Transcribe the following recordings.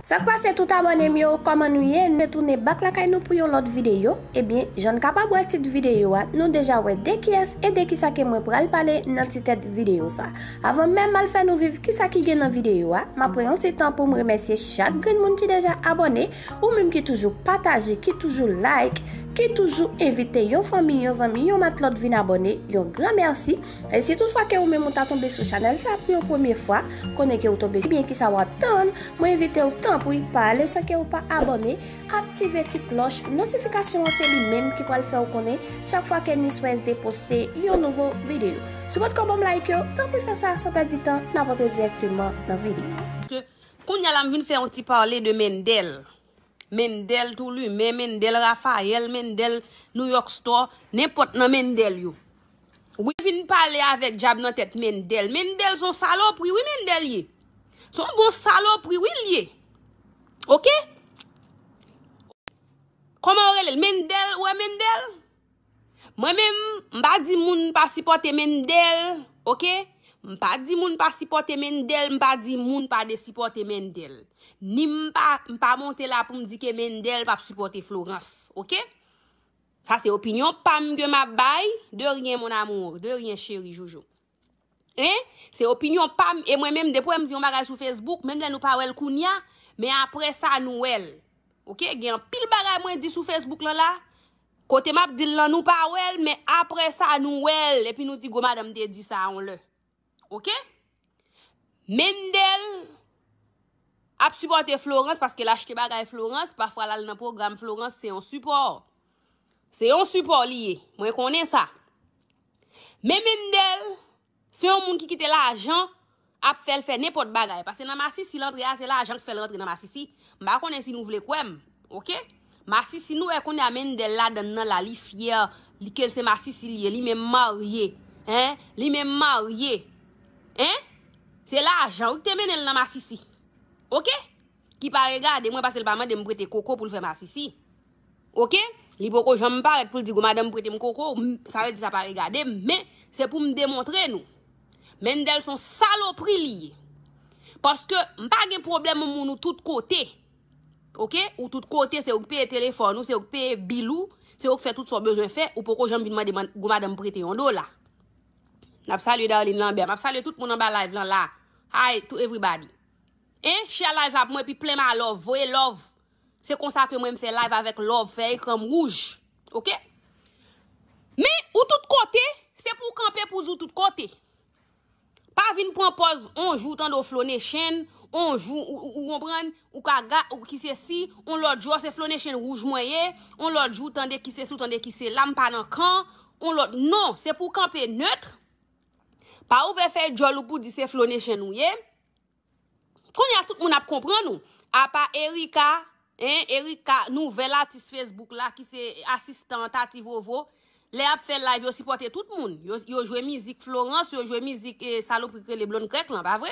Sak pase tout abone m yo koman nou ye n retounen bak lakay nou pou yon lot video ebyen jan n kapab wè tit video a nou deja wè de kiyès e de kisa ke mwen pral pale nan ti tèt video sa avan menm mal fè nou viv kisa ki gen nan video a map pran yon ti tan poum remèsye chak grenn moun ki deja abone. Ou menm ki toujou pataje, ki toujou like, ki toujou envite yon fanmi, yon zanmi, yon matlòt vin abòne, yon gran mèsi. E si tout fwa ke ou menm ou ta tonbe sou chanèl sa pou yon premye fwa, konnen ke ou tonbe sou ebyen kisa wap tann, mwen envite ou tanpri pa ale san ke ou pa abòne, aktive ti klòch notifikasyon an se li menm ki pral fè ou konnen chak fwa ke NiswaSD poste yon nouvo videyo. Si ou patkò banm like yo, tanpri fè sa san pèdi tan, nap antre dirèkteman nan videyo. Kounya la m vin fè yon ti parle de Mendel. Mendel tou lumen, Mendel Raphael, Mendel New York Store, nenpòt nan Mendel yo. Wi m vin pale avèk djab nan tèt Mendel. Mendel son salopri wi Mendel ye. Son bon salopri wi l ye. Ok. Kòman yo rele l? Mendel, ou wè Mendel? Mwen menm m pa di moun pa sipòte Mendel ok m pa di moun pa sipòte Mendel m pa di moun pa de sipòte Mendel ni m pa m pa monte la pou m di ke Mendel pap sipòte Florence ok sa se opinyon pa m ke m ap bay de ryen mon amour de ryen cheri joujou. Hein? Se opinyon pam e mwen menm depi wèm di yon bagay sou Facebook menm lè nou pa wèl kounya men aprè sa nou wèl ok gen anpil bagay mwen di sou Facebook lan la kote map dil lan nou pa wèl men aprè sa nou wèl epi nou di gwo madanm te di sa yon lè ok Mendel ap sipòte Florence paske l achte bagay Florence pafwa lal nan pwogram Florence se yon sipò. Se yon sipò li ye, mwen konnen sa. Men Mendel, se yon moun ki kite lajan ap fè l fè nenpòt bagay. Pase nan masisi l antre a, se lajan k fè l rantre nan masisi. M pa konnen si nou vle kwè m. Ok? Masisi nou wè kounye a Mendel ladan nan la, li fyè, li ke l se masisi li ye, li menm marye. Hein? Li menm marye. Hein? Se lajan wi ki te mennen l nan masisi. Ok? Ki pa regade mwen pase l pa mande m prete koko pou l fè masisi. Ok Li poko janm parèt pou l di gwo madanm prete m koko w sa vle di sa pa regade m men se pou m demontre nou Mendel son salopri li ye paske m pa gen pwoblèm m moun ou tout kote ok ou tout kote se ou k peye telefòn ou se ou k peye bil ou se ou k fè tout sa w bezwen fè ou poko janm vin mande gwo madanm prete yon dola N ap salye Darline Lambert m ap salye tout moun anba live lan la Hi to everybody Hein share live la pou mwen epi plen ma love voye love Se konsa ke mwen m fè live avèk love fè ekranm wouj ok men ou tout kote se pou kanpe pou zou tout kote pa vin pran pòz on jou tande w flonechen on jou ou konprann ou ka ga ou ki se si on lòt jou se flonechen wouj mwen ye on lòt jou tande ki se si ou tande ki se la m pa nan kan on lòt non se pou kanpe neutre pa ouvè fè djòl ou pou di se flonechen ou ye. Konnya tout moun ap konprann ou. Apa Erika, hein Erika nouvèl atis Facebook la ki se asistan Tati Vovo, lè yap fè live yo sipòte tout moun. Yo jwe mizik Florence, yo jwe mizik eh, salopri ki rele Blonde Krèk lan, pa vre?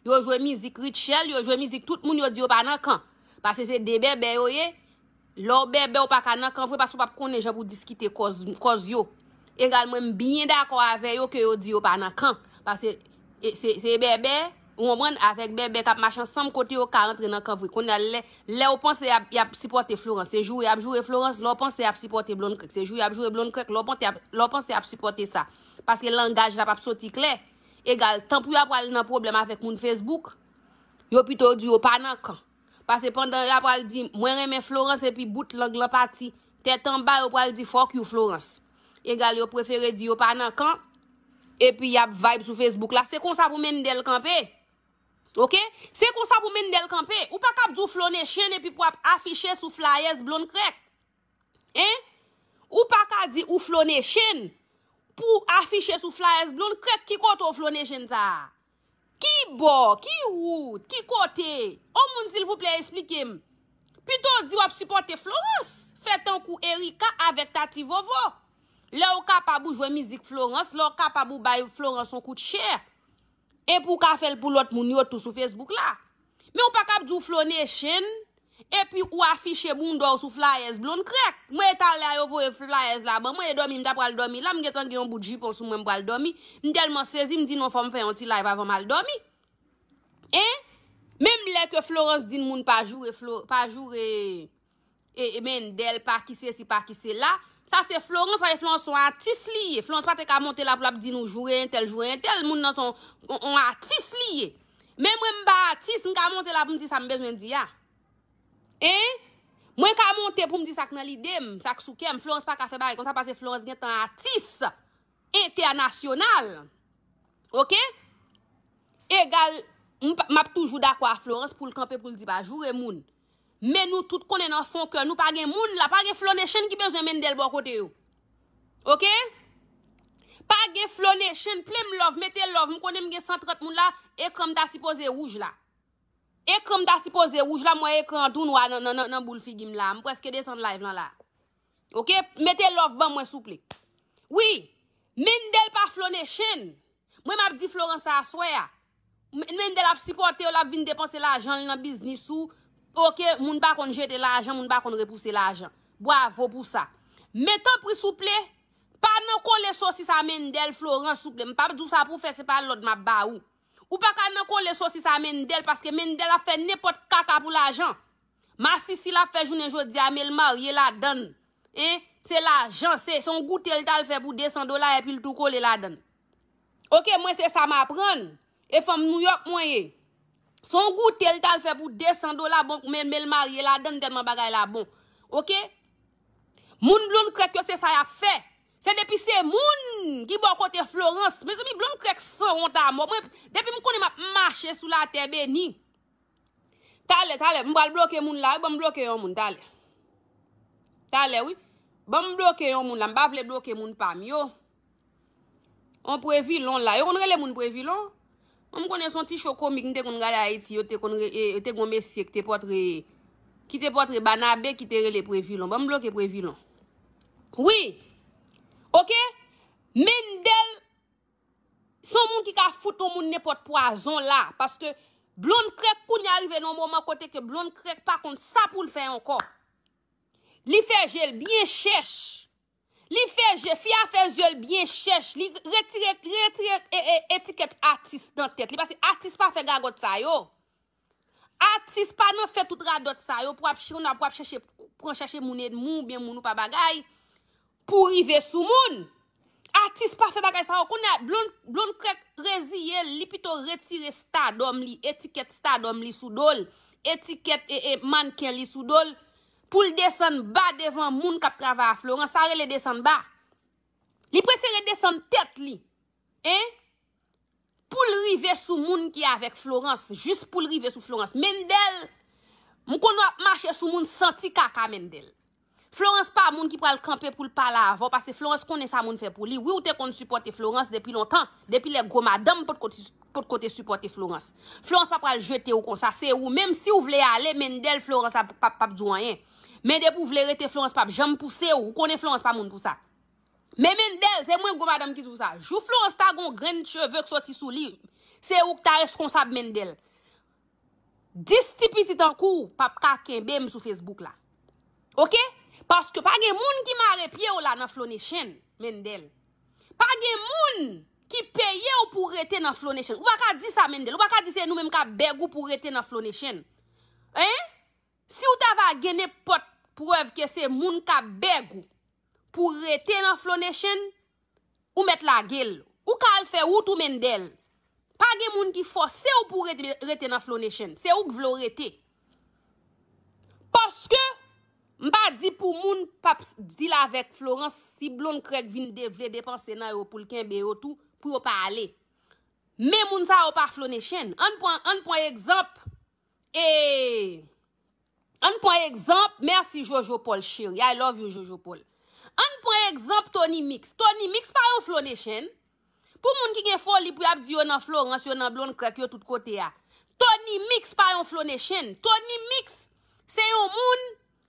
Yo jwe mizik Rutshelle, yo jwe mizik tout moun yo di yo pa nan kan. Pase se 2 bèbè yo ye, Lè w bèbè ou pa ka nan kan vre paske ou pap konnen jan pou w diskite kòz yo. Egal mwen m byen dakò avè yo ke yo di yo pa nan kan. Paske se bèbè, ou konprann, avèk bèbè kap mache ansanm kote yo ka antre nan kan vre. Kounye a lè ou panse yap sipòte Florence, se jou yap joure Florence, lè ou panse yap sipòte Blonde Krèk, se jou yap joure Blonde Krèk, lè ou panse yap sipòte sa. Paske langaj la pap soti klè. Egal tan pou yo ap pral nan pwoblèm avèk moun Facebook, yo pito di yo pa nan kan. Pase pandan ya pral di mwen renmen Florence epi bout lang lan pati tèt anba yo pral di fuck you Florence. Egal yo prefere di yo pa nan kan epi yap vibe sou Facebook la se konsa pou Mendel kanpe ok se konsa pou Mendel kanpe ou pa kap di w Flo Nation epi pou wap afiche sou flyers Blonde Krèk hein ou pa ka di ou Flo Nation pou afiche sou flyers Blonde Krèk ki kote w Flo Nation sa a Ki bò? Ki wout? Ki kote? On moun silvouplè esplike m. Pito w di w ap sipòte Florence. Fè tankou Ericka avèk Tati Vovo. Lè w kapab ou jwe mizik Florence, lè w kapab ou bay Florence on kout chè. Epi w ka fè l pou lòt moun yo tou sou Facebook la. Men ou pa kab di ou Flo Nation epi ou afiche bounda w sou flayèz Blond Krèk. Mwen e talè a yo voye flayèz la ban mwen e dòmi m ta pral dòmi la m gentan gen yon bout jipon sou mwen m pral dòmi. M tèlman sezi m di non fò m fè yon ti live avan m al dòmi. Hein! Menm lè ke Florence di n moun pa joure Flo, pa joure. Emen delpa ki sesi pa ki sela sa se florans paske florans son atis li ye florans pate ka monte la pou lap di nou joure entel joure entel moun nan son on atis li ye men mwen m pa atis m ka monte la pou m di sa m bezwen di a hein mwen ka monte pou m di sak nan lidem sak sou kèm florans pa ka fè bagay konsa paske florans gentan atis entènasyonal ok egal map toujou dakò a florans poul kanpe poul di pa joure moun. Men nou tout konnen nan fon kè nou pa gen moun la, pa gen Flo Nation ki bezwen Mendel bò kote yo. Ok? Pa gen Flo Nation, plem love, mete love, m konnen m gen 130 moun la, ekran m ta sipoze wouj la. Ekran m ta sipoze wouj la, m wè ekran an tou nwa nan boul figi m la, m preske desann live lan la. Ok mete love ban mwen souple. Wi Mendel pa flo ne chen. Mwen map di Florence sa aswe a. Mendel ap sipotew lap vin depanse lajanl nan biznis ou ok moun pa konn jete lajan moun pa konn repouse lajan. Bwavo pou sa. Men tanpri souple pa nan kole sosis a Mendel Florence souple mpap diw sa pou fè se pa lod map ba ou. Ou paka nan kole sosis a Mendel paske Mendel ap fè nenpot kaka pou lajan. Masisi lap fè jounen jodia men l marye ladann hein se lajan se yon goute l tal fè pou 200 dola epi l tou kole ladann ok mwen se sa m aprann e fanm nouyòk mwen ye se yon goute l tal fè pou 200 dola bon men l marye ladann tèlman bagay la bon ok moun blond krèk yo se sa yap fè se depi se moun ki bò kote Florence mezanmi blond krèk sanwont amò mwen depi m konnen map mache sou latè beni. Talè talè m pral bloke moun la wi banm bloke yon moun talè Talè wi banm bloke yon moun la m pa vle bloke moun pam yo On previlon la yo konn rele moun previlon m konnen son ti show komik m te konn gade ayiti yo te konn te gon mesye ki te potre ki te potre banabe ki te rele previlon banm bloke previlon wi ok Mendel Son moun ki ka fout yon moun nenpòt pwazon la paske Blond krèk kounya rive nan yon moman kote ke Blond krèk pa konn sa poul fè ankò. Li fè jel byen chèch. Li fè je, fi a fè zyel byen chèch. Li retire, li retire etikèt atis nan tèt li paske atis pa fè gagòt sa yo. Atis pa nan fè tout radòt sa yo pou ap chèche pou ap chèche moun edmi ou byen moun ou pa bagay pou rive sou moun. Atis pa fè bagay sa yo. Kounye a Blond Krèk reziye l, li pito retire stardom li, etikèt stardom li sou do l, etikèt mannken li sou do l pou l desann ba devan moun k ap travay a Florent. Sa rele desann ba. Li prefere desann tèt li Hein poul rive sou moun ki avek Florence jis poul rive sou Florence Mendel m konn wap mache sou moun santi kaka Mendel Florence pa moun ki pral kanpe poul pale avèw pase Florence konnen sa moun fè pou li wi ou te konn sipòte Florence depi lontan depi lè gwo madanm potko te sipòte Florence Florence pa pral jetew konsa se ou menm siw vle ale Mendel Florence pap diw anyen men depi ou vle rete Florence pap janm pousew ou konnen Florence pa moun pou sa. Men Mendel, se mwen gwo madanm ki di w sa. Jou Florence ta gon grenn cheve k soti sou li, se ou k ta reskonsab Mendel. 10 ti piti tankou w p ap ka kenbe m sou Facebook la. Ok? Paske pa gen moun ki mare pye w la nan Flonechenn, Mendel. Pa gen moun ki peye w pou w rete nan Flonechenn. Ou pa ka di sa Mendel. Ou pa ka di se nou menm k ap beg ou pou w rete nan Flonechenn. Hein? Si w ta va gen nenpòt prèv ke se moun k ap beg ou. Pou rete nan Flow Nation, ou mèt lage l. Ou ka al fè wout ou Mendel. Pa gen moun ki fòse w pou rete nan Flow Nation. Se ou k vle w rete. Paske, m pa di pou moun pap deal avèk Florence, si Blonde Craig vin de vle depanse nan yo pou l kenbe yo tou, pou yo pa ale. Men moun sa yo pa Flow Nation. Ann pran egzanp, ee, Ann pran egzanp, merci Jojo Paul cheri, I love you Jojo Paul. Ann pran egzanp Tony Mix. Tony Mix pa yon Flo Nation. Pou moun ki gen foli pou yap di yo nan Florence, yo nan Blondcrek, yo tout kote a. Tony Mix pa yon Flo Nation. Tony Mix se yon moun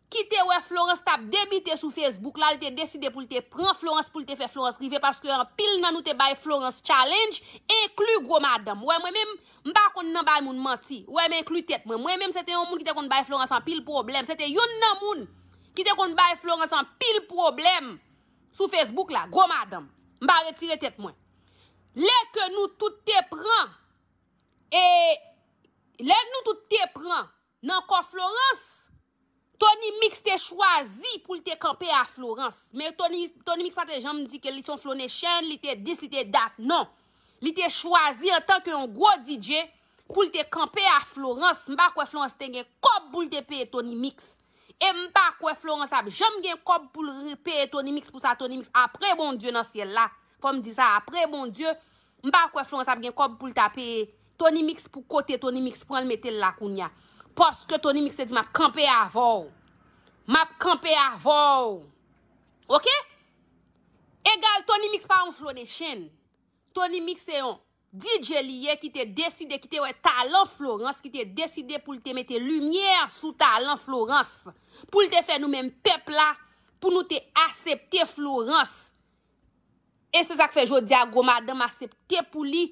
ki te wè Florence tap debite sou Facebook la, li te deside pou li te pran Florence pou li te fè Florence rive paske anpil nan nou te bay Florence challenge, enkli gwo madanm. Wè mwen menm, M pa konn nan bay moun manti. Wè m enkli tèt mwen. Mwen menm se te yon moun ki te konn bay Florence anpil pwoblèm. Se te youn nan moun ki te konn bay Florence anpil pwoblèm sou Facebook la. Gwo madanm. M pa retire tèt mwen. Lè ke nou tout te pran e lè nou tout te pran Nan kò Florence, Tony Mix te chwazi pou l te kanpe a Florence. Men Tony, Tony Mix pa te janm di ke li se yon Flo Nation, li te dis, li te dat, non. Li te chwazi antan ke yon gwo DJ pou l te kanpe a Florence. M pa kwè Florence te gen kòb pou l te peye Tony Mix. E m pa kwè Florence ap janm gen kòb pou l peye Tony Mix pou sa Tony Mix apre Bondye nan syèl la, fò m di sa, apre Bondye M pa kwè Florence ap gen kòb poul ta peye Tony mix pou kote Tony mix pranl metel la kounya paske Tony mix te di map kanpe avèw map kanpe avèw ok egal Tony mix pa yon flonechenn Tony mix se yon DJ li ye ki te deside ki te wè talan Florence ki te deside poul te mete limyè sou talan Florence poul te fè nou menm pèp la pou nou te asepte Florence E se sak fè jodi a gwo madanm asepte pou li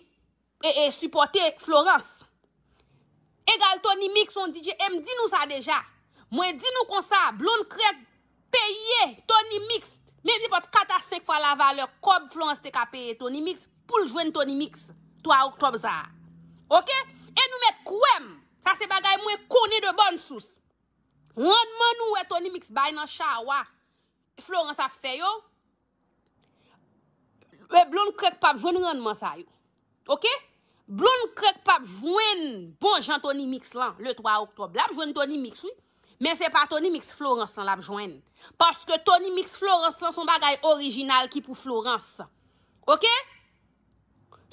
sipòte Florence. Egal Tony mix on DJ e m di nou sa deja. Mwen di nou konsa Blonde Crève peye Tony mix menm se pat 4 a 5 fwa la valè kòb Florence te ka peye Tony mix pou l jwenn Tony mix 3 oktòb sa a. Ok e nou mèt kwè m sa se bagay mwen konnen de bòn sous. Rannman nou wè Tony mix bay nan chawa Florence ap fè yo e blond krèk pap jwenn rannman sa yo ok blond krèk pap jwenn bon jan tony mix lan le 3 octobre lap jwenn tony mix wi men se pa tony mix Florence lan lap jwenn paske tony mix Florence lan son bagay orijinal ki pou Florence ok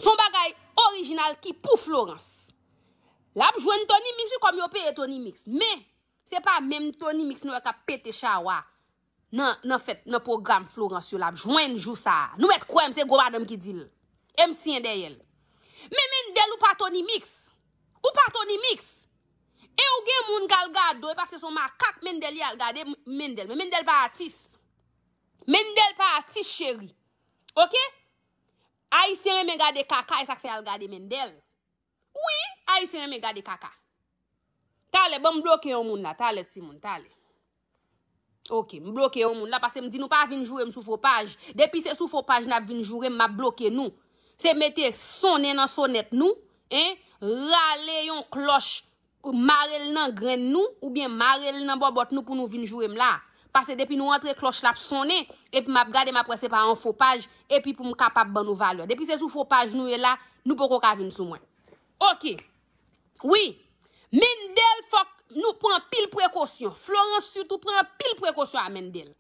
son bagay orijinal ki pou Florence lap jwenn tony mix wi kòm yo peye tony mix men Se pa menm Tony mix nou wè kap pete chawa nan nan fèt nan pwogram Florence yo lap jwenn jou sa. Nou mèt kwèm se gwo madanm ki dil. Em siyen dèyèl. Men Mendel ou pa Tony mix. Ou pa Tony mix. E ou gen moun kal gadew e paske son makak Mendel ye al gade Mendel. Men Mendel pa atis. Mendel pa atis cheri. Ok. Ayisyen renmen gade kaka esak fè al gade Mendel. Wi ayisyen renmen gade kaka. Talè banm bloke yon moun la talè ti moun talè. Ok m bloke yon moun la pase m di nou pa vin joure m sou fo paj. Depi se sou fo paj nap vin joure m map bloke nou. Se mete sonnen nan sonet nou. Rale yon kloch Mare l nan grenn nou oubyen mare l nan bòbòt nou pou nou vin joure m la. Pase depi nou antre klòch la ap sonnen epi m ap gade m ap wè se pa yon fo paj epi pou m kapab ban nou valè. Depi se sou fo paj nou ye la, nou poko ka vin sou mwen. Oke. Wi. Mendel fòk nou pran anpil prekosyon. Florans sitou pran anpil prekosyon a Mendel.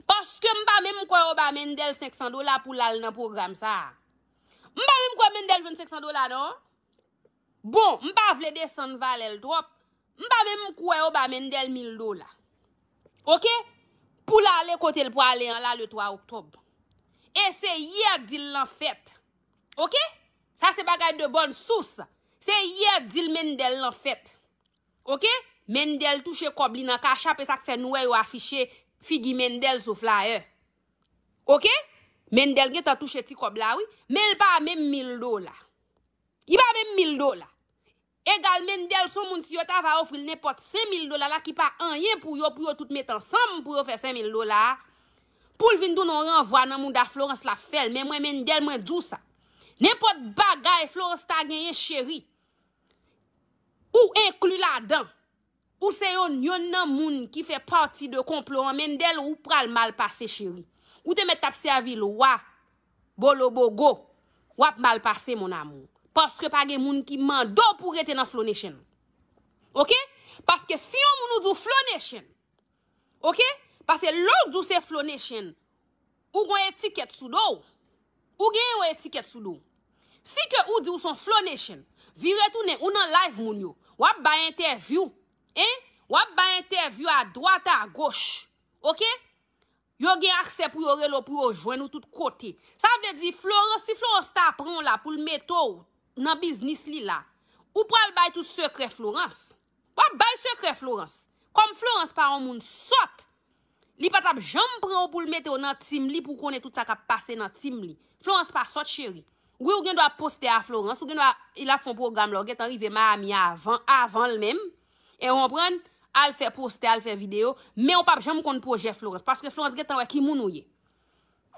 Paske m pa menm kwè yo ba Mendel 500 dola pou l al nan pwogram sa a. M pa menm kwè Mendel jwenn 500 dola non. Bon, m pa vle desann valè l twòp, m pa menm kwè yo ba Mendel mil dola. Ok? Pou l ale kote l prale an la le 3 oktòb. E se yè dil lan fèt. Ok? Sa se bagay de bòn sous. Se yè dil Mendel lan fèt. Ok? Mendel touche kòb li nan kachap e sa k fè nou wè yo afiche figi Mendel sou flayè. Ok? Mendel gentan touche ti kòb la wi. Men l pa menm mil dola. Li pa menm mil dola. Egal Mendel son moun si yo ta va ofri l nenpòt sen mil dola la ki pa anyen pou yo pou yo tout met ansanm pou yo fè sen mil dola a, pou l vin tounen yon ranvwa nan mouda Florence l ap fè l men mwen Mendel mwen di w sa. Nenpòt bagay Florence ta genyen cheri ou enkli ladan. Ou se yon yonn nan moun ki fè pati de konplo an Mendel ou pral mal pase cheri ou te mèt tap sèvi lwa bolobogo wap mal pase mon amour paske pa gen moun ki mande w pou rete nan Flonation ok paske si yon moun ou di w Flonation Ok pase lè w di w se Flo Nation ou gon etikèt sou do w ou gen yon etikèt sou do w si ke ou di w son Flo Nation vire tounen ou nan live moun yo wap bay entèvyou hein wap bay entèvyou a dwat a goch ok yo gen aksè pou yo rele w pou yo jwenn ou tout kote sa vle di Florence si Florence ta pran w la pou l mete w nan biznis li la ou pral bay tout sekrè Florence. Wap bay sekrè Florence. Kòm Florence pa yon moun sòt, li pa tap janm pran w pou l mete w nan team li pou w konnen tout sa kap pase nan team li. Florence pa sòt cheri. Wi ou gen dwa poste a Florence, ou gen dwa il ap fè yon pwogram la ou gentan rive Miami avan, avan l menm. E ou konprann? Al fè poste, al fè video, men ou pap janm konn pwojè Florence. Paske Florence gentan wè ki moun ou ye.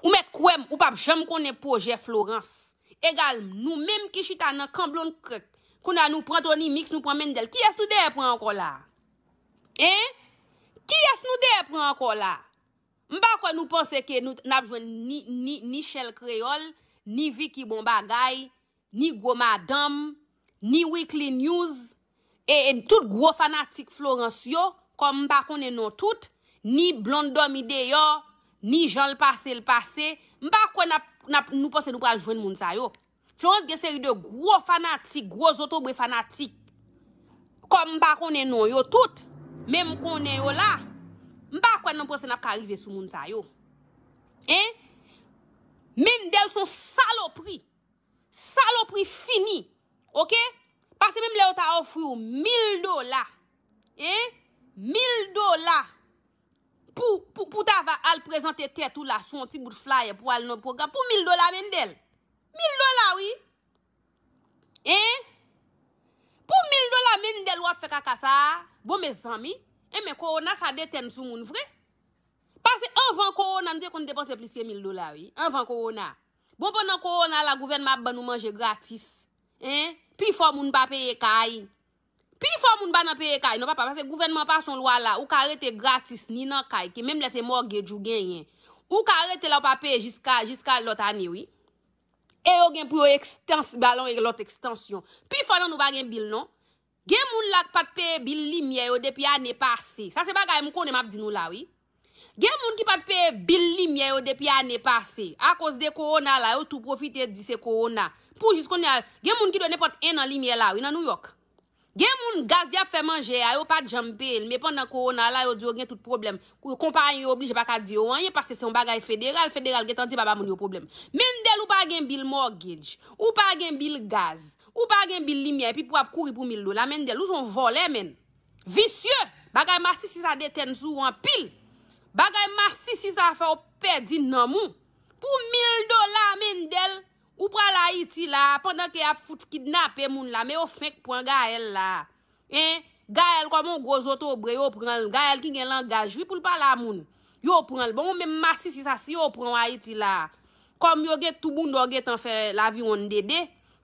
Ou mèt kwè m ou p ap janm konnen pwojè Florence egal m nou menm ki chita nan kan Blondkrk kounye a nou pran Tony Mix nou pran Mendel kiyès nou dèyè pran ankò la a hein kiyès nou dèyè pran ankò la a m pa kwè nou panse ke nou n ap jwenn ni ni ni Shell Kreyòl ni Vicky Bon Bagay Ni gwo madanm, ni weekly news, e tout gwo fanatik Florence yo, kòm m pa konnen non tout, ni Blonde Dòmi Deyò, ni jan l pase l pase, m pa kwè n ap, n ap, nou panse nou pral jwenn moun sa yo. Florence gen seri de gwo fanatik, gwo zotobre fanatik, kòm m pa konnen non yo tout, men m konnen yo la, m pa kwè nou panse n ap ka rive sou moun sa yo. Hein? Mendel s on salopri! Salopri fini ok pase menm lè yo ta ofri ou mil dola hein mil dola pou pou ta va al prezante tèt ou la sou yon ti bout flyer pou al nan yon pwogram pou mil dola Mendel mil dola wi hein pou mil dola Mendel wap fè kaka sa bon mezanmi hein men kowona sa detèn sou moun vre pase anvan kowona nou te konn depanse plis ke mil dola wi anvan kowona. Bon pandan korona la gouvènman ap bannou manje gratis hein pifò moun pa peye kay pifò moun pa nan peye kay non papa pase gouvènman an pase yon lwa la ou ka rete gratis ni nan kay ke menm lè se mortgage ou genyen ou ka rete la ou pa peye jiska jiska lòt ane wi e yo gen pou yo ekstans ba lòt ekstansyon pifò nan nou pa gen bill non Gen moun la k pat peye bil limyè yo depi ane pase. Sa se bagay m konnen m ap di nou la wi. Gen moun ki pat peye bil limyè yo depi ane pase. Akoz de kowona la yo tou pwofite di se kowona. Pou jis kounye a, gen moun ki dwe nenpòt ennan limyè la wi nan Nouyòk. Gen moun gaz y ap fè manje a yo pat janm peye l men pandan kowona la yo di yo gen tout pwoblèm. Konpayi yo oblije pa ka di yo anyen paske se yon bagay federal, federal gentan di pa ba moun yo pwoblèm. Mendel ou pa gen bil mortgage, ou pa gen bil gaz, Ou pa gen bil limyè epi pou ap kouri pou mil dola Mendel ou son vòlè menn visye bagay masisi sa detèn sou ou anpil bagay masisi sa fè ou pèdi nanm ou pou mil dola Mendel ou pral ayiti la pandan ke yap fout kidnape moun la men yo fenk pwan Gaëlle la. Hein Gaëlle kòman yon gwo zotobre yo pranl Gaëlle ki gen langaj wi poul pale a moun yo pranl bon ou menm masisi sa si yo pranw ayiti la kòm yo gen tou bounda ou gentan fè laviwonn dede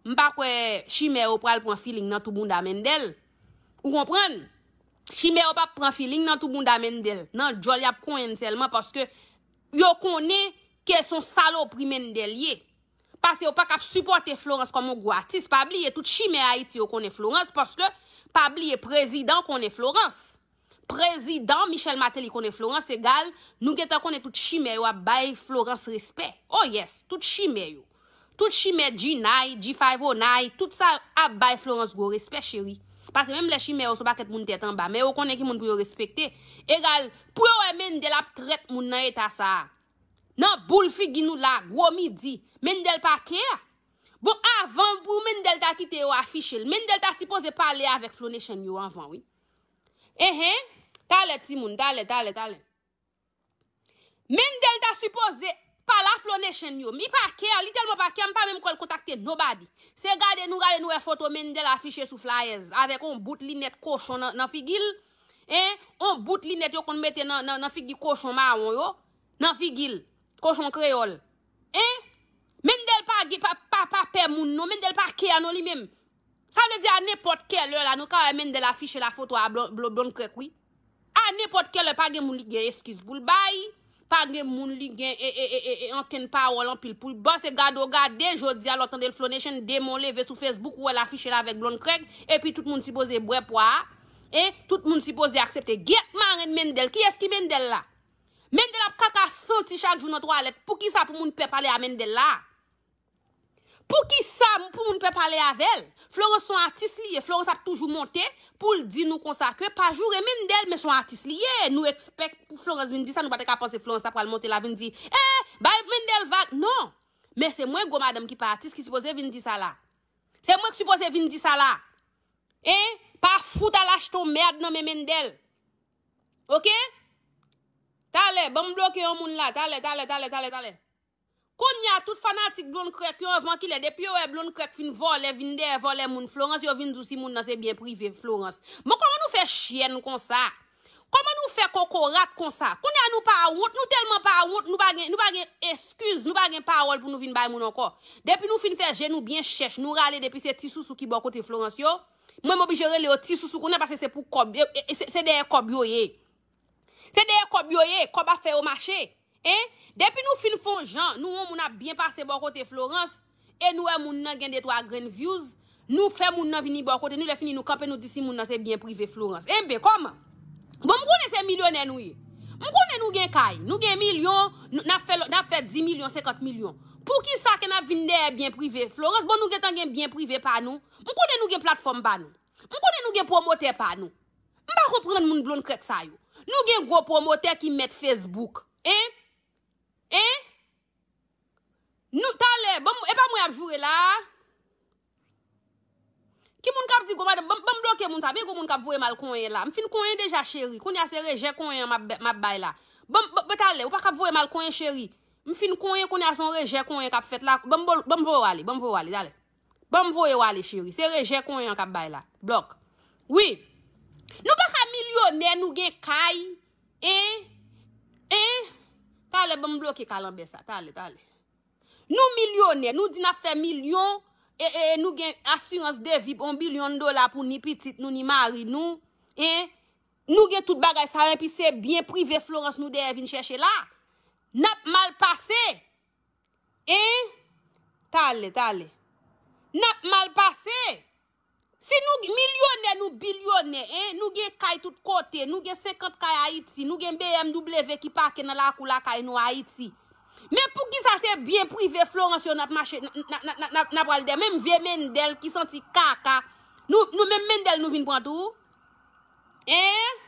m pa kwè chimè yo pral pran filing nan tou bounda mendel ou konprann chimè yo pap pran filing nan tou bounda mendel nan djòl yap konyenn sèlman paske yo konnen ke son salopri mendel ye. Pase yo paka ap sipòte Florence kòm yon gwo atis pa bliye tout chimè ayiti yo konnen Florence paske pa bliye prezidan konnen Florence prezidan Michel Martelly konnen Florence egal nou gentan konnen tout chimè yo ap bay Florence respè oh yes tout chimè yo tout chimè G-9 G-509 tout sa yo ap bay Florence gwo respè cheri pase menm lè chimè yo son pakèt moun tèt anba men yo konnen ki moun pou yo respekte egal pou yo wè Mendel ap trèt moun nan eta sa a. Nan boul figi nou la gwo midi. Mendel pa care. Bon avan pou Mendel ta kite yo afichel. Mendel ta sipoze pale avek Flo Nation yo anvan wi. Enhen Talè timoun talè talè talè. Mendel ta sipoze pale a Flo Nation yo. Li pa care li telman pa care m pa menm kwèl kontakte nobody. Se gade nou gade nou wè foto Mendel afiche sou flyers avek yon bout linèt kochon nan figil. Enhen. Hein on bout linèt yo konn mete nan nan nan figi kochon mawon yo nan figil kochon kreyòl hein Mendel pa gen pa pa pa pè moun non Mendel pa kea non li menm sa vle di a nenpòt kè lè la nou ka wè Mendel afiche la foto a blon blonn krèk wi a nenpòt kè lè pa gen moun li gen eskiz poul bay. Pa gen moun li gen ee ankenn pawòl anpil poul ba se gade w gade jodia lè w tande l Flo Nation demon leve sou Facebook ou wè l afiche l avèk Blonde Craig epi tout moun sipoze bwè pwa a hein tout moun sipoze aksepte gyèt marenn Mendel kiyès ki Mendel la Mendel ap kaka santi chak jou nan twalèt poukisa pou moun pè pale a Mendel la. Poukisa pou moun pe pale avel. Florence son atis li ye Florence ap toujou monte poul di nou konsa ke pa joure Mendel men son atis li ye nou expect pou Florence vin di sa nou pa te ka panse Florence ta pral monte la vin di eh bay Mendel vag non men se mwen gwo madanm ki pa atis ki sipoze vin di sa la se mwen ki sipoze vin di sa la eh pa fout al achte yon merd nan men Mendel ok talè banm bloke yon moun la talè talè talè talè talè. Konnya tout fanatik blond krèk yo anvan kilè depi yo wè blond krèk fin vòlè vin dèyè vòlè moun Florence yo vin di w si moun nan se byen prive Florence bon kòman nou fè chyèn konsa kòman nou fè kokorat konsa konnya nou pa wont nou tèlman pa wont nou pa gen nou pa gen eskiz nou pa gen pawòl pou nou vin bay moun ankò depi nou fin fè je nou byen chèch nou rale depi se ti sousou ki bò kote Florence yo mwen m oblije rele yo ti sousou konnya paske se pou kòb se dèyè kòb yo ye. Se dèyè kòb yo ye, kòb ap fè yo mache. Hein? Depi nou fin fon jan, nou won moun ap byen pase bò kote Florence, e nou wè moun nan gen detwa grenn views, nou fè moun nan vini bò kote nou, lè fini nou kanpe nou di si moun nan se byen prive Florence. Enben, kòman? Bon, m konnen se milyonè nou ye. M konnen nou gen kay, nou gen milyon, n ap fè, n ap fè 10 milyon, 50 milyon. Poukisa ke n ap vin dèyè byen prive Florence? Bon, nou gentan gen byen prive pa nou. M konnen nou gen platfòm pa nou. M konnen nou gen pwomotè pa nou. M pa konprann moun blond krèk sa yo. Nou gen gwo pwomotè ki mèt Facebook. Hein? Hein? Nou talè, ban m, e pa mwen y ap joure la a? Ki moun k ap di gwo madanm, ban m bloke moun sa a, byen gwo moun k ap voye m al konyen la a. M fin konyen deja cheri, kounye a se rejè konyen an m ap bay la a. Ban m, ban m, talè, ou pa ka ap voye m al konyen cheri. M fin konyen, kounye a se yon rejè konyen k ap fèt la a. Ban m voye w ale, ban m voye w ale, talè. Banm voyew ale cheri. Se rejè konyen an kap bay la. Block. Wi. Nou paka milyonè nou gen kay en en Talè banm bloke kalanbè sa talè talè. Nou milyonè nou di nap fè milyon e e nou gen asirans devi on bilyon dola pou ni pitit nou ni mari nou en Nou gen tout bagay sa yo epi se byen prive Florence nou dèyè vin chèche la. Nap mal pase. Hein? Tale, tale. Nap mal pase! Si nou milyonè, nou bilyonè, hein, nou gen kay tout kote, nou gen 50 kay Ayiti, nou gen BMW ki pake nan lakou lakay nou Ayiti. Men poukisa se byen prive Florence yo nap mache, nap pral dèmen, menm vye Mendel ki santi kaka, nou menm Mendel nou vin pran tou? Hein?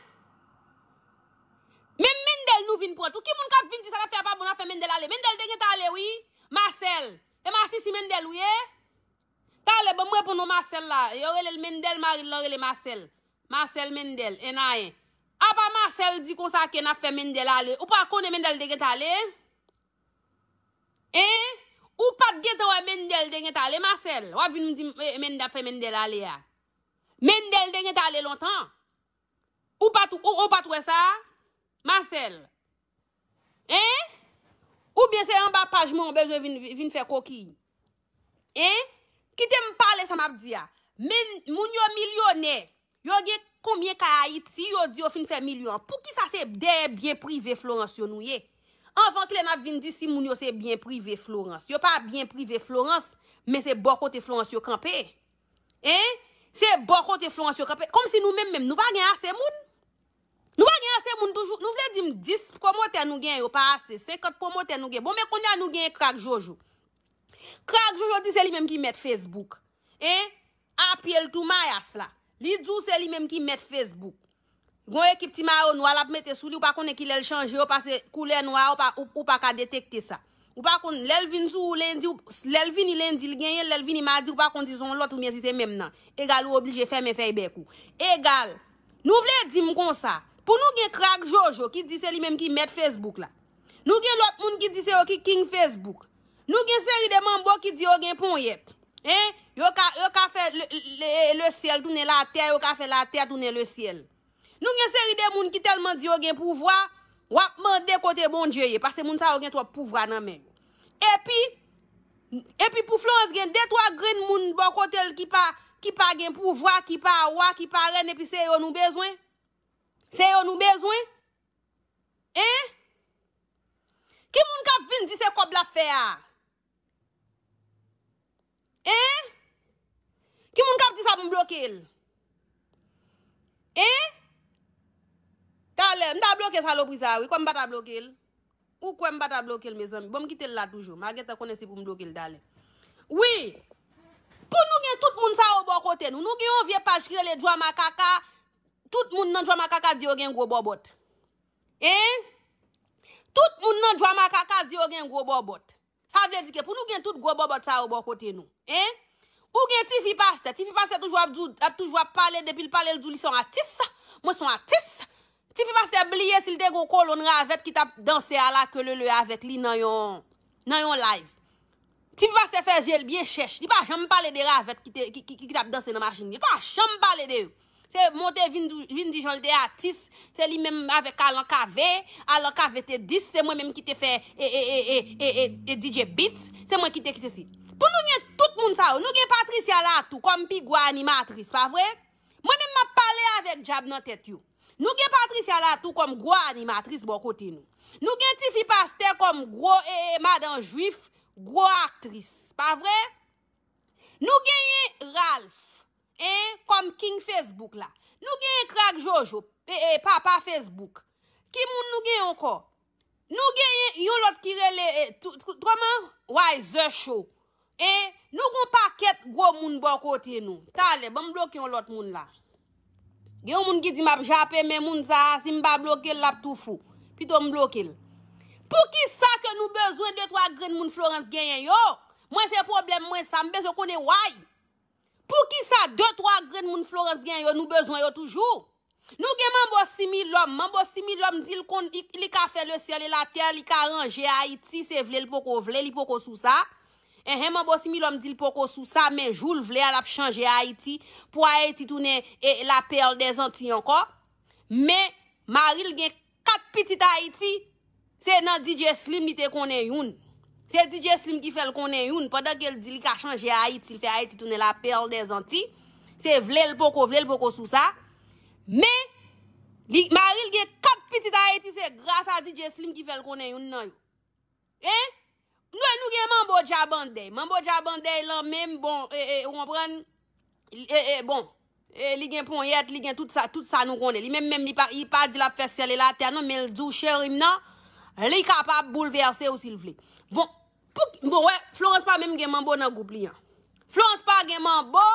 Menm Mendel nou vin pran tou ki moun kap vin di sa nap fè a pa bon nap fè Mendel ale Mendel te gentan ale wi Marcel e masisi Mendel ou ye talè banm reponn non Marcel la yo relel Mendel maril lan rele Marcel Marcel Mendel 1 a 1 apa Marcel di konsa ke nap fè Mendel ale ou pa konnen Mendel te gentan ale hein ou pat gentan wè Mendel te gentan ale Marcel wap vin dim Mendel ap fè Mendel ale a Mendel te gentan ale lontan. Ou pat ou pat wè sa a Marcel? Hein? Oubyen se anba paj mwen ou bezwen vin vin fè kokiy? Hein? Kite m pale sa map di a. Men moun yo milyonè, yo gen konbyen kay Ayiti yo di yo fin fè milyon an? Poukisa se dèyè byen prive Florence yo nou ye? Anvan kle nap vin di si moun yo se byen prive Florence. Yo pa byen prive Florence, men se bò kote Florence yo kanpe. Hein? Se bò kote Florence yo kanpe. Komsi nou menm menm nou pa gen ase moun? Nou pa gen ase moun toujou? Nou vle dim 10 pwomotè nou gen yo pa ase? 50 pwomotè nou gen? Bon men kounya nou gen Krak Jojo. Krak Jojo di se li menm ki mèt Facebook. Hein? A pye l tou mayas la. Li di w se li menm ki mèt Facebook. Gon ekip ti mayo nwa lap mete sou li ou pa konnen kilè l chanje yo pase koulè nwa a ou pa ka detekte sa. Ou pa konn lè l vin sou ou lendi ou lè l vini lendi l genyen l lè l vini madi ou pa konn si son lòt oubyen si se menm nan egal ou oblije fèmen fèy bèk ou egal Nou vle di m konsa pou nou gen krak jojo ki di se li menm ki mèt fesbouk la Nou gen lòt moun ki di se yo ki king fesbouk Nou gen seri de manbo ki di yo gen ponyèt. Hein, yo ka, yo ka fè le syèl tounen la tè, yo ka fè la tè tounen le syèl. Nou gen seri de moun ki tèlman di yo gen pouvwa, wap mande kote Bondye ye, pase moun sa yo gen twòp pouvwa nan men yo. Epi, epi pou Florence gen de twa grenn moun bò kotel ki pa, ki pa gen pouvwa, ki pa wa, ki pa rèn epi se yo nou bezwen? Se yo nou bezwen? Hein? Ki moun kap vin di se kob lap fè a? Hein? Ki moun kap di sa pou m bloke l? Hein? Talè, m ta bloke salopri sa a wi, kwè m pa ta bloke l? Ou kwè m pa ta bloke l mezanmi? Bon m kite l la toujou, ma gentan konnen si pou m bloke l talè. Wi! Pou nou gen tout moun sa yo bò kote nou, nou gen yon vye paj ki rele Djwa Makaka, Tout moun nan Djwamakaka di yo gen gwo bòbòt. Hein? Tout moun nan Djwamakaka di yo gen gwo bòbòt. Sa vle di ke pou nou gen tout gwo bòbòt sa yo bò kote nou. Hein? Ou gen tifi pastè. Tifi pastè toujou ap di w, ap toujou ap pale, depi l pale l di w li se yon atis. Mwen se yon atis. Tifi pastè bliye si l te gen yon kolonn ravèt ki t ap danse a la ke lele avèk li nan yon nan yon live. Ti pastè fè je l byen chèch. Li pa janm pale de ravèt ki tap danse nan machin. Li pa janm pale de yo. Se monte vin di jan l te atis. Se li menm avèk alan kave. Alan kave te dis. Se mwen menm ki te fè e DJ Beats. Se mwen ki te ki se si. Pou nou gen tout moun sa yo. Nou gen Patricia la tou. Kòm pi gwa animatris. Pa vre? Mwen menm map pale avèk djab nan tèt yo. Nou gen Patricia la tou kòm gwo animatris bò kote nou. Nou gen tifi pastè kòm gwo ee madan jwif gwo aktris. Pa vre? Nou genyen Ralph ee kòm king Facebook la. Nou genyen Krak Jojo ee papa Facebook. Ki moun nou genyen ankò? Nou genyen yon lòt ki rele kòman Wiser Show e nou gon pakèt gwo moun bò kote nou. Talè banm bloke yon lòt moun la. Gen yon moun ki di map jape men moun sa a si m pa bloke l lap tou fou. Pito m bloke l. Poukisa ke nou bezwen de twa grenn moun Florence genyen yo? Mwen se pwoblèm mwen sa. M bezwen konnen why? Poukisa de twa grenn moun Florence gen yo nou bezwen yo toujou? Nou gen manbo similòm, manbo similòm di l konn li ka fè le syèl e la tè, li ka ranje Ayiti se vle l poko vle li poko sou sa, enhen manbo similòm di l poko sou sa men jou l vle a l ap chanje Ayiti pou Ayiti tounen la perle des Antilles ankò men mari l gen 4 pitit Ayiti, se nan DJ Slim li te konnen youn. Se DJ Slim ki fè l konnen youn, pandan ke l di li ka chanje Ayiti, l fè Ayiti tounen la perle des Antilles, se vle l poko vle l poko sou sa, men, li, mari l gen 4 pitit Ayiti, se gras a DJ Slim ki fè l konnen youn nan yo. Hein? Noue nou gen manbo dja bandey. Manbo dja bandey lan menm bon eh eh ou konprann eh eh bon eh li gen ponyèt li gen tout sa tout sa nou konnen li menm menm li pa li pa di lap fè syèl e latè non menl di w cheri m nan li kapab boulvèse w si l vle bon pou ki bon wè Florence pa menm gen manbo nan gwoup li an Florence pa gen manbo!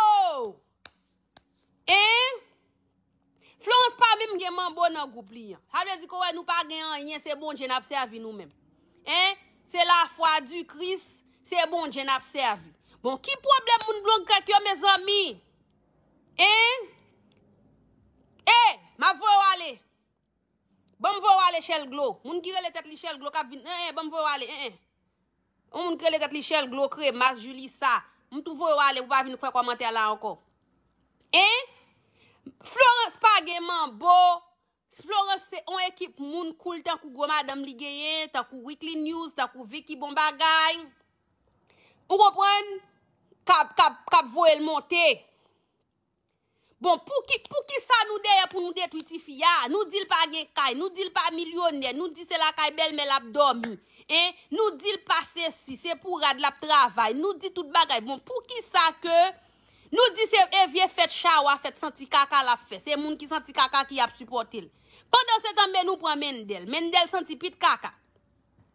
Enh Florence pa minm gen manbo nan group li an sa vle di ko wè nou pa gen anyen se bondye nap sèvi nou menm enh se la fwa di kris se bondye nap sèvi bon ki pwoblèm moun blon grèt yo mezanmi enh eeh map voye w ale. Banm voye w ale chèl glo. Moun ki rele tèt li chèl glo kap vin eeh banm voye w ale eeh. On moun ki rele tèt li chèl glo, kremas, julissa. M tou voye w ale pou pa vin fè kòmantè la ankò. Hein? Florence pa gen manbo. Florence se on ekip moun cool tankou gwo madanm li genyen, tankou Weekly News, tankou Vicky Bon Bagay. Ou konprann? Kap kap kap voye l monte. Bon pouki poukisa nou dèyè pou nou detwi tifi a, nou dil pa gen kay, nou dil pa milyonè, nou di se lakay bèlmè lap dòmi, en, nou dil pa sesi, se pou rad lap travay, nou di tout bagay, bon poukisa ke nou di se e vye fèt chawa fèt santi kaka lap fè, se moun ki santi kaka ki ap sipòtel. Pandan se tan men nou pran Mendel, Mendel santi pit kaka.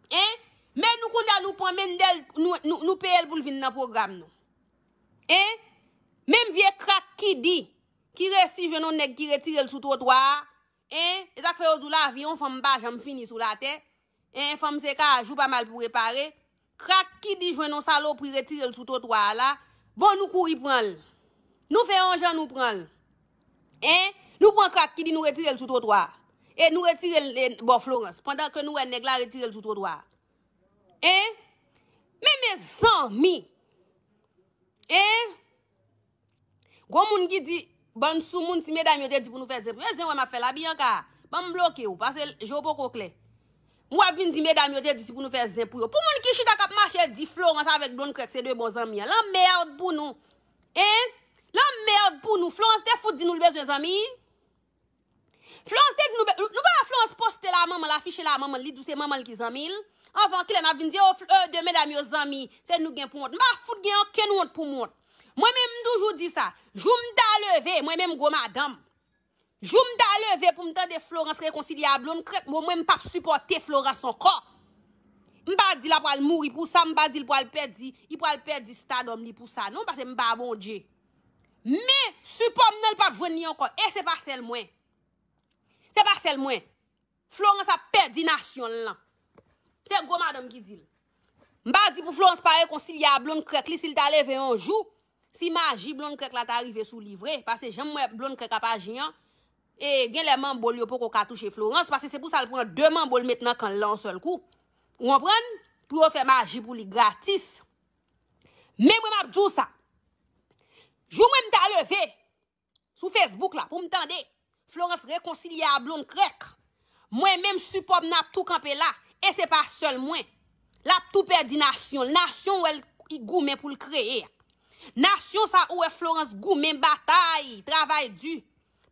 En, men nou kounya nou pran Mendel nou peyel poul vin nan pwogram nou. Hein? Menm vye krak kidi ki resi jwenn yon nèg ki retirel sou twotwa a, hein? E sak fè yo di w lavi yon fanm pa janm fini sou latè, hein, fanm se ka ajou pa mal pou repare, krak kidi jwenn yon salopri retirel sou twotwa a la, bon nou kouri pranl. Nou fè yon jan nou pranl. Hein? Nou pran krak kidi nou retirel sou twotwa a. E nou retirel bò Florence, pandan ke nou wè nèg la retirel sou twotwa a. Hein Men mezanmi Hein Gon moun ki di bann sou moun ti medam yo te di pou nou fè zen pou yo zen wè map fè la Bianca Ban m bloke ou pase je w poko klè Ou ap vin di medam yo te di si pou nou fè zen pou yo pou moun ki chita kap mache di Florence avèk Blonde Crèk se 2 bon zanmi an lanmerd pou nou Hein lanmerd pou nou Florence te fout di nou l bezwen zanmi Florence te di nou bel, nou pa wè Florence poste la manmanl afiche la manmanl li di w se manmanl ki zanmil, anvan kilè nap vin di oh euh 2 medam yo zanmi, se nou gen pou wont, m pa fout gen okenn wont poum wont, mwen menm m toujou di sa, jou m ta leve, mwen menm gwo madanm, jou m ta leve poum tande Florence rekonsilye a Blonde krèk bon mwen m pap sipòte Florence ankò, m pa di la pwal mouri pou sa, m pa dil pwal pèdi, li pwal pèdi stardom li pou sa non, pase m pa Bondye. Men sipòm nan li pap jwenn li ankò e se pa sèl mwen se pa sèl mwen Florence ap pèdi nasyon l lan se gwo madanm ki di l m pa di pou Florence pa rekonsilye a blond krèk li si l ta leve yon jou si maji blond krèk la ta rive sou li vre pase jan m wè blond krèk ap aji an e genlè manbo l yo poko ka touche Florence pase se pou sa l pran 2 manbo l met nan kan l lan yon sèl kou ou konprann pou yo fè maji pou li gratis. Men mwen map di w sa, jou mwen m ta leve sou Facebook la pou m tande Florence rekonsilye a Blondkrèk, mwen menm sipò m nan ap tou kanpe la, e se pa sèl mwen. L ap tou pèdi nasyon l, nasyon w wè l goumen pou l kreye a. Nasyon sa ou wè Florence goumen, batay, travay di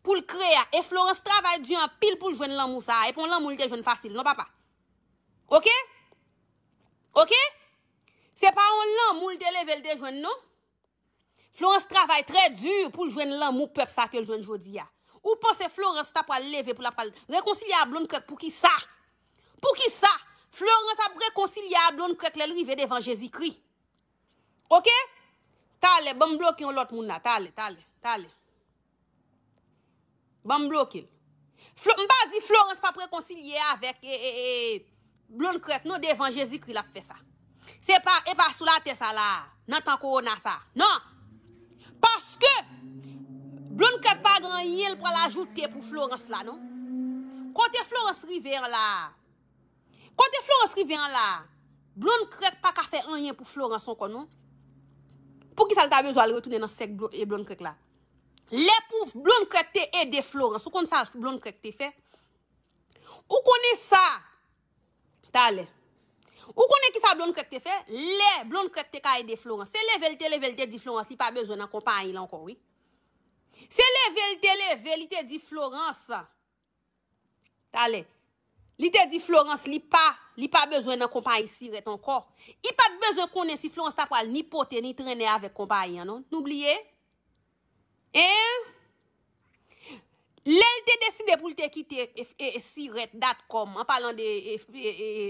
pou l kreye a. E Florence travay di anpil pou l jwenn lanmou sa a, e pa yon lanmou li te jwenn fasil non papa. Ok? Ok? Se pa yon lanmou li te leve li te jwenn non. Florence travay trè di pou l jwenn lanmou pèp sa ke l jwenn jodi a. Ou panse Florence ta pwal leve pou l ap pwal rekonsilye a Blonde Krèk pou ki sa? Pou ki sa? Florence ap rekonsilye a Blonde Krèk lè l rive devan Jezi Kri. Ok? Talè, banm bloke yon lòt moun la. Talè, talè, talè. Ban m bloke l. Flo, m pa di Florence p ap rekonsilye avèk e, e, e, Blond Crête non devan Jezikri l ap fè sa. Se pa, e pa sou latè sa la a, nan tan kowona sa a. Non! Paske, Blond Crête pa gen anyen l pral ajoute pou Florence la non. Kote Florence rive an la a, kote Florence rive an la a, Blond Crête pa ka fè anyen pou Florence ankò non. Poukisa l ta bezwen al retounen nan sèk Blond Crête la? Lè pou blond krèk te ede florans ou konn sa blond krèk te fè ou konnen sa talè ou konnen kisa blond krèk te fè lè blond krèk te ka ede florans se level te level te di florans li pa bezwen nan konpayil ankò wi se level te level li te di florans Talè. Li te di Florence li pa li pa bezwen nan konpayi sirèt ankò. I pa t bezwen konnen si Florence ta pral ni pote ni trennen avèk konpayi an non. Nou bliye? Hein? Lè l te deside pou l te kite sirèt datcom, an palan de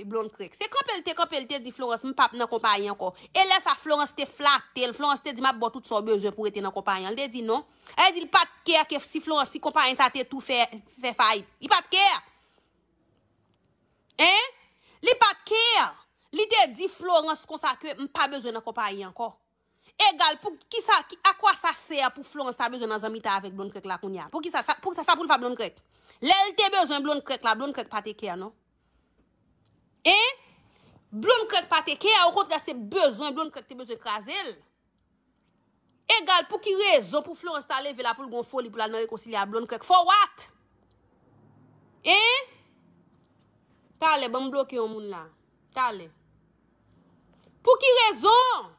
Blonde Craik, se kanpe l te kanpe l te di Florence m pa p nan konpayi ankò. E lè sa Florence te flate l, Florence te di m ap ba w tout sa w bezwen pou w rete nan konpayi an. Li te di non. Sa vle di li pa t care ke si Florence, si konpayi sa te tou fè fayit. Li pa t care. Hein? Li pa t care. Li te di Florence konsa ke m pa bezwen nan konpayi ankò. Egal pou kisa, a quoi ça sert pou Florence ta bezwen nan zanmitay avèk Blonde Krèk la kounye a? Poukisa sa, poukisa sa pou l fè a Blonde Krèk? Lè l te bezwen Blonde Krèk la, Blonde Krèk pa te care non. Hein? Blonde Krèk pa te care, okontrè se bezwen Blonde Krèk te bezwen kraze l. Egal pou ki rezon pou Florence ta leve la poul gon foli poul al nan rekonsilye a blond krèk for what? Hein? Talè banm bloke yon moun la talè Pou ki rezon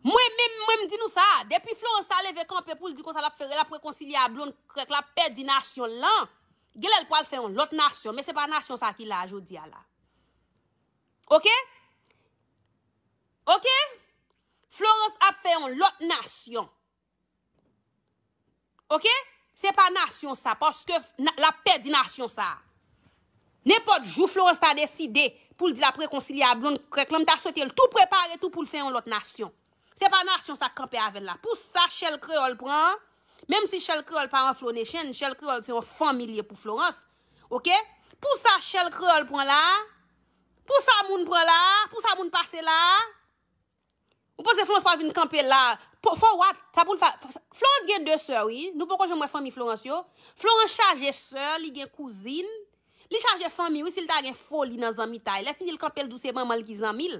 Mwen menm mwen m di nou sa depi Florence ta leve kanpe poul di konsa lap fè lap rekonsilye a blond krèk lap pèdi nasyon l lan genlè l pwal fè yon lòt nasyon men se pa nasyon sa ki la jodi a la ok Ok Florence ap fè yon lot nasyon Ok se pa nasyon sa paske lap pèdi nasyon sa Nenpot jou Florence ta deside poul di lap rekonsilye a Blonde krèk lan mta swetel tou prepare tou poul fè yon lot nasyon se pa nasyon sa kanpe avèl la pou sa Shell Creole pran an menm si Shell Creole pa yon Flo Nation Shell Creole se yon fanmi liye pou Florence Ok pou sa Shell Creole pran la Pou sa moun pran la a? Pou sa moun pase la a? Ou panse Florence pral vin kanpe la a? Po, for what? Sa pou l fè? Florence gen 2 sè wi. Nou poko janm wè fanmi Florence yo. Florence chaje sè, li gen kouzin. Li chaje fanmi wi si l ta gen foli nan zanmitay. Lè fini l kanpe l di w se manman l ki zanmi l.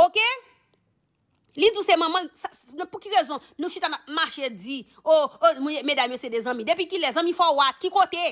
Ok? Li di w se manman l, sa, nan pou ki rezon nou chita n ap mache di, oh, oh, medam yo se de zanmi. Depi kilè? Zanmi for what? Ki kote?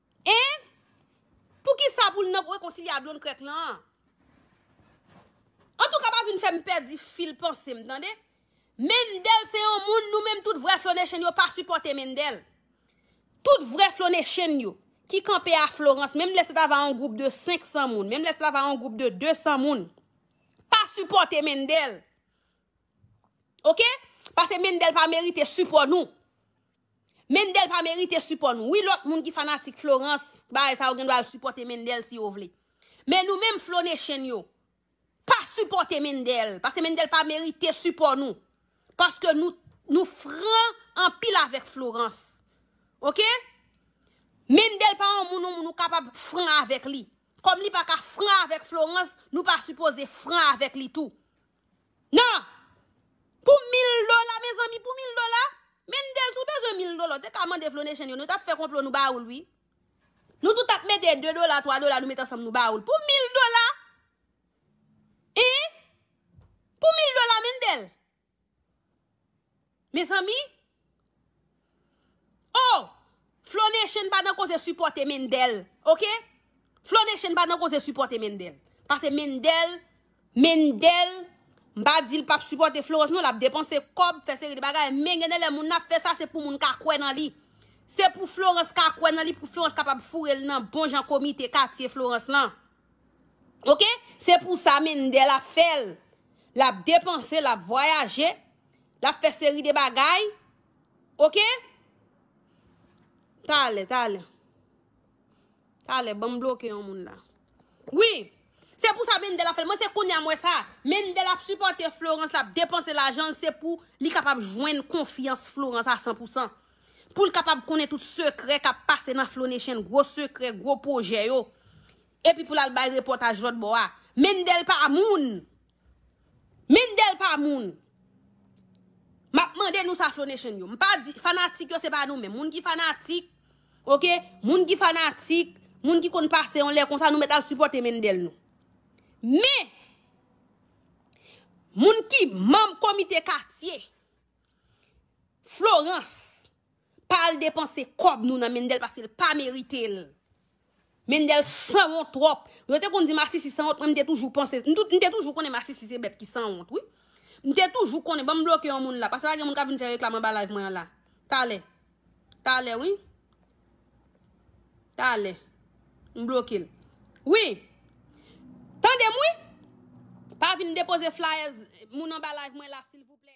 Hein? Poukisa pou l nan rekonsilye a blond krèk lan? Antouka pa vin fè m pèdi fil panse m tande. Mendel se yon moun nou menm tout vrè flonèchen yo pa sipòte Mendel. Tout vrè flonèchen yo ki kanpe a Florence menm lè se ta va yon gwoup de 500 moun, menm lè se ta va yon gwoup de 200 moun pa sipòte Mendel. Ok? Pase Mendel pa merite sipò nou. Mendel pa merite sipò nou wi lòt moun ki fanatik Florence bagay sa yo gen dwa al sipòte Mendel si yo vle men nou menm Flo Nation yo pa sipòte Mendel paske Mendel pa merite sipò nou paske nou nou fran anpil avèk Florence ok Mendel pa yon moun yon moun ou kapab fran avèk li kòm li pa ka fran avèk Florence nou pa sipoze fran avèk li tou. Nan! Pou mil dola mezanmi pou mil dola? Mendez ou bezwen mil dola ou te ka mande Flonechenn yo nou tap fè konplo nou ba oul wi. Nou tout ap mete 2 dola 3 dola nou met ansanm nou ba oul pou mil dola Hein pou mil dola Mendel Mezanmi Oh Flo nation pa nan koze sipote Mendel ok Flo nation pa nan koze sipote Mendel pase Mendel Mendel m pa di l pap sipote Florence non lap depanse kob fè seri de bagay men gen de lè moun ap fè sa se pou moun ka kwè nan li se pou Florence ka kwè nan li pou Florence kapab foure l nan bon jan komite katye Florence lan. Ok se pou sa mendel ap fel lap depanse lap vwayaje lap fe seri de bagay ok tale tale tale banm bloke yon moun la wi se pou sa mendel ap fel mwen se konya mwen sa mendel ap sipote florans lap depanse lajanl se pou li kapab jwenn konfyans florans a 100% Pou l kapab konnen tout sekrè k ap pase nan Flonechenn, gwo sekrè, gwo pwojè yo. Epi pou l al bay repòtaj lòt bò a. Mendel pa moun! Mendel pa moun! M ap mande nou sa Flonechenn yo. M pa di, fanatik yo se pa nou menm. Moun ki fanatik, ok, moun ki fanatik, moun ki konn pase yon lè konsa nou mèt al sipòte Mendel nou. Men, moun ki manm komite katye. Florence pa al depanse kob nou nan mendel pasel pa meritel. Mendel sanwont trop. Yo te konn di masisi sanwont mwen mte toujou panse mte toujou konnen masisi se bet ki sanwont wi. Mte toujou konnen banm bloke yon moun la pase pa gen moun kap vin fè reklam anba live mwen an la. Talè. Talè wi. Talè. M blokel. Wi. Tandem wi. Pa vin depoze flyers moun anba live mwen la silvouplè.